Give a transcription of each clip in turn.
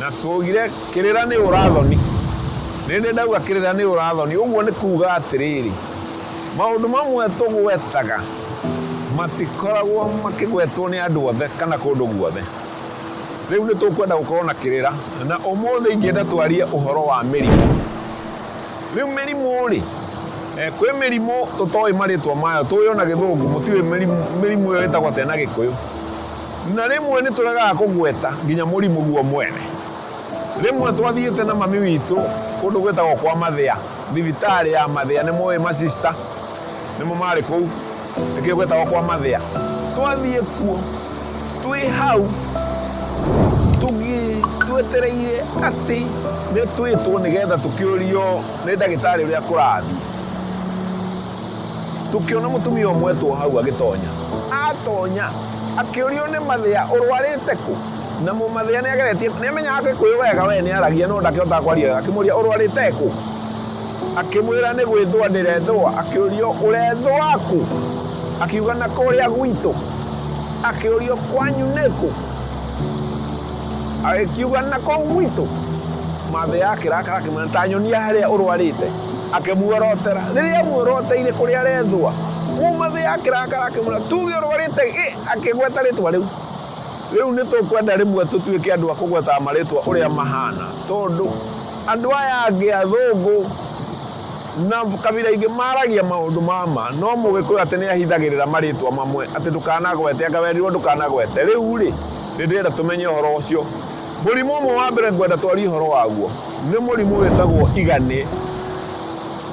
Na twoigire, Kĩrĩra nĩ ũũra-thoni. Rĩrĩ, ndauga kĩrĩra nĩ ũũra-thoni, ũguo nĩ kuuga atĩrĩrĩ, maũndũ mamwe tũgwetaga matikoragwo makĩgwetwo nĩ andũ othe kana kũndũ guothe. Rĩu nĩ tũkwenda gũkorũo na kĩrĩra, na ũmũthĩ ingĩenda twarie ũhoro wa mĩrimũ. Rĩu mĩrimũ-rĩ, kwĩ mĩrimũ tũtoĩ marĩtwa mayo, tũũĩ o na Gĩthũngũ, mũtiũĩ mĩrimũ ĩyo ĩtagwo atĩa na Gĩkũyũ. Na rĩmwe nĩ tũregaga kũgweta nginya mũrimũ guo mwene. Rĩmwe twathiĩte na mami witũ kũndũ gwĩtagwo kwa mathĩa, thibitarĩ ya mathĩa, nĩ mũĩ ma sister nĩmo marĩ kũu, nĩkĩo gwĩtagwo kwa mathĩa. Twathiĩ kuo, twĩ hau twetereire atĩ nĩ twĩtwo nĩgetha tũkĩũrio nĩ ndagĩtarĩ ũrĩa kũrathiĩ. Tũkĩona mũtumia ũmwe etwo o hau agĩtonya. Atonya, akĩũrio nĩ mathĩa, Ũrwarĩte kũ? Na mũmathĩa nĩ ageretie, nĩ amenyaga Gĩkũyũ wega, we nĩ aragia no ndakĩhotaga kwaria wega, akĩmũũria, Ũrwarĩte kũ? Akĩmwĩra, Nĩ gwĩthũa ndĩrethũa. Akĩũrio, Ũrethũa kũ? Akiuga, Na kũrĩa gwitũ. Akĩũrio, Kwanyu nĩ kũ? Agĩkiuga, Na kũu gwitũ. Mathĩa akĩrakara, akĩmwĩra, Ta nyonia harĩa ũrwarĩte. Akĩmuorotera. Rĩrĩa aamuoroteire kũrĩa arethũa, kuuma thĩ ya kĩrakara akĩmwĩra, Tuuge ũrwarĩte ĩ! Akĩgweta rĩtwa rĩu. Rĩu nĩ tũkwenda rĩmwe tũtuĩke andũ a kũgwetaga marĩtwa ũrĩa mahaana, tondũ andũ aya angĩ athũngũ na kabira ingĩ maragia maũndũ ma ma, no Mũgĩkũyũ atĩ nĩ ahithagĩrĩra marĩtwa mamwe, atĩ ndũkanagwete, anga werirũo ndũkanagwete. Rĩu-rĩ, nĩ ndĩrenda tũmenye ũhoro ũcio. Mũrimũ ũmwe wa mbere ngwenda twarie ũhoro waguo nĩ mũrimũ wĩtagwo iganĩ.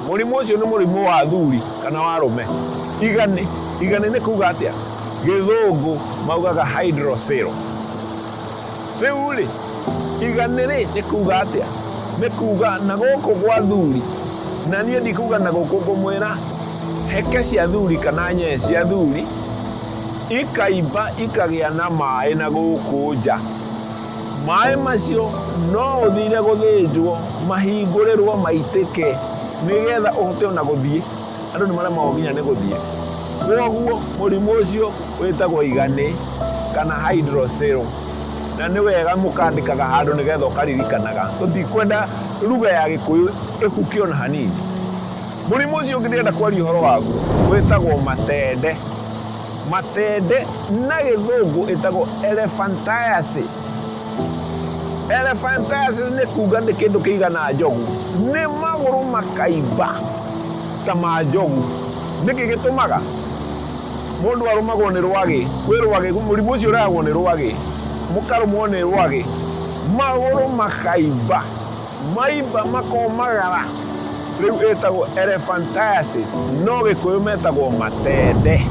Mũrimũ ũcio nĩ mũrimũ wa athuri kana wa arũme. Iganĩ, iganĩ nĩ kuuga atĩa? Gĩthũngũ maugaga hydrocele. Rĩu-rĩ, iganĩ-rĩ, nĩ kuuga atĩa? Nĩ kuuga na gũkũ gwa athuri, na niĩ ndikuuga na gũkũ, ngũmwĩra heke cia athuri kana nyee cia athuri ikaimba ikagĩa na maĩ na gũkũ nja. Maĩ macio no ũthire gũthĩnjwo, mahingũrĩrwo, maitĩke, nĩgetha ũhote ona gũthiĩ. Andũ nĩ maremagwo nginya nĩ gũthiĩ. Kwoguo mũrimũ ũcio wĩtagwo iganĩ kana hydrocele. Na nĩ wega mũkandĩkaga handũ nĩgetha ũkaririkanaga. Tũtikwenda ruga ya gĩkũyũ ĩhuke ona hanini. Mũrimũ ũcio ũngĩ ndĩrenda kwaria ũhoro waguo wĩtagwo matende. Matende na gĩthũngũ ĩtagwo elephantiasis. Elephantiasis nĩ kuga nĩ kĩndũ kĩigana njogu, nĩ magũrũ makaimba ta ma njogu. Nĩkĩ gĩtũmaga? Mũndũ arũmagwo nĩ rwagĩ, kwĩ rwagĩ, mũrimũ ũcio ũrehagwo nĩ rwagĩ, mũkarũmwo nĩ rwagĩ, magũrũ makaimba. Maimba makomagara, rĩu ĩtagwo elephantiasis, no Gĩkũyũ metagwo matende.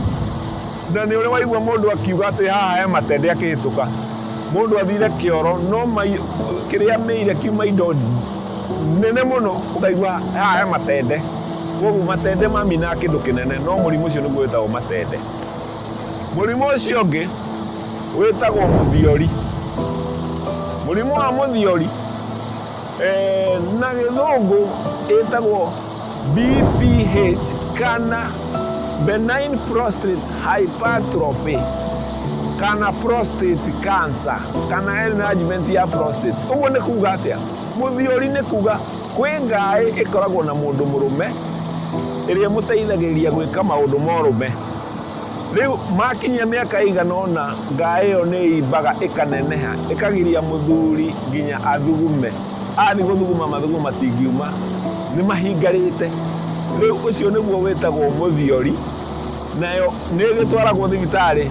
Na nĩ ũrĩ waigua mũndũ akiuga atĩ haha he matende akĩhĩtũka. Mũndũ athire kĩoro no kĩrĩa amĩire kiuma indo nene mũno ũkaigua haha he matende. Kwoguo matende mamina kĩndũ kĩnene no mũrimũ ũcio nĩguo wĩtagwo matende. Mũrimũ ũcio ũngĩ wĩtagwo mũthiori. Mũrimũ wa mũthiori eh, na gĩthũngũ ĩtagwo BPH kana benign prostate hypertrophy kana prostate cancer kana enlargement ya prostate. Ũguo nĩ kuga atĩa? Mũthiori nĩ kuga kwĩ ngaĩ ĩkoragwo na mũndũ mũrũme ĩrĩa ĩmũteithagĩrĩria gwĩka maũndũ morũme. Rĩu maakinyia mĩaka ĩigana ũna, ngaa ĩyo nĩ ĩimbaga ĩkaneneha, ĩkagiria mũthuri nginya athugume. Athiĩ gũthuguma mathugumo matingiuma, nĩ mahingarĩte. Rĩu ũcio nĩguo wĩtagwo mũthiori, nayo nĩ ĩgĩtwaragwo thibitarĩ.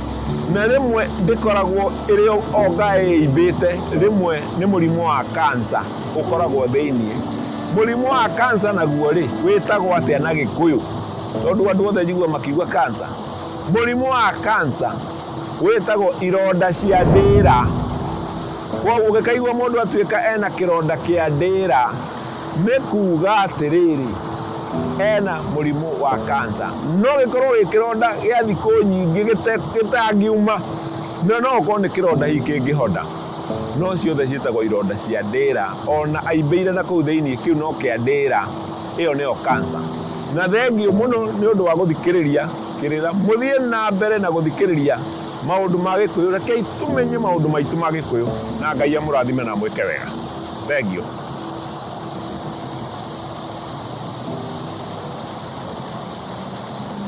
Na rĩmwe ndĩkoragwo ĩrĩ o ngaa ĩimbĩte, rĩmwe nĩ mũrimũ wa cancer ũkoragwo thĩinĩ. Mũrimũ wa cancer naguo-rĩ, wĩtagwo atĩa na Gĩkũyũ? Tondũ andũ othe njiguaga makiuga kansa, mũrimũ wa kansa wĩtagwo ironda cia ndĩĩra. Kwoguo ũngĩkaigua mũndũ atuĩka ena kĩronda kĩa ndĩĩra, nĩ kuuga atĩrĩrĩ, ena mũrimũ wa kansa. No gĩkorwo wĩ kĩronda gĩa thikũ nyingĩ gĩtangiuma, na no ũkorwo nĩ kĩronda hihi kĩngĩhona. No ciothe ciĩtagwo ironda cia ndĩĩra. O na aimbĩire na kũu thĩinĩ, kĩu no kĩa ndĩĩra. ĩyo nĩyo kansa. Na thengiũ mũno nĩ ũndũ wa gũthikĩrĩria kĩrĩra. Mũthiĩ na mbere na gũthikĩrĩria maũndũ ma Gĩkũyũ. Rekei tũmenye maũndũ maitũ ma Gĩkũyũ na Ngai amũrathime na amwĩke wega. Thengiũ.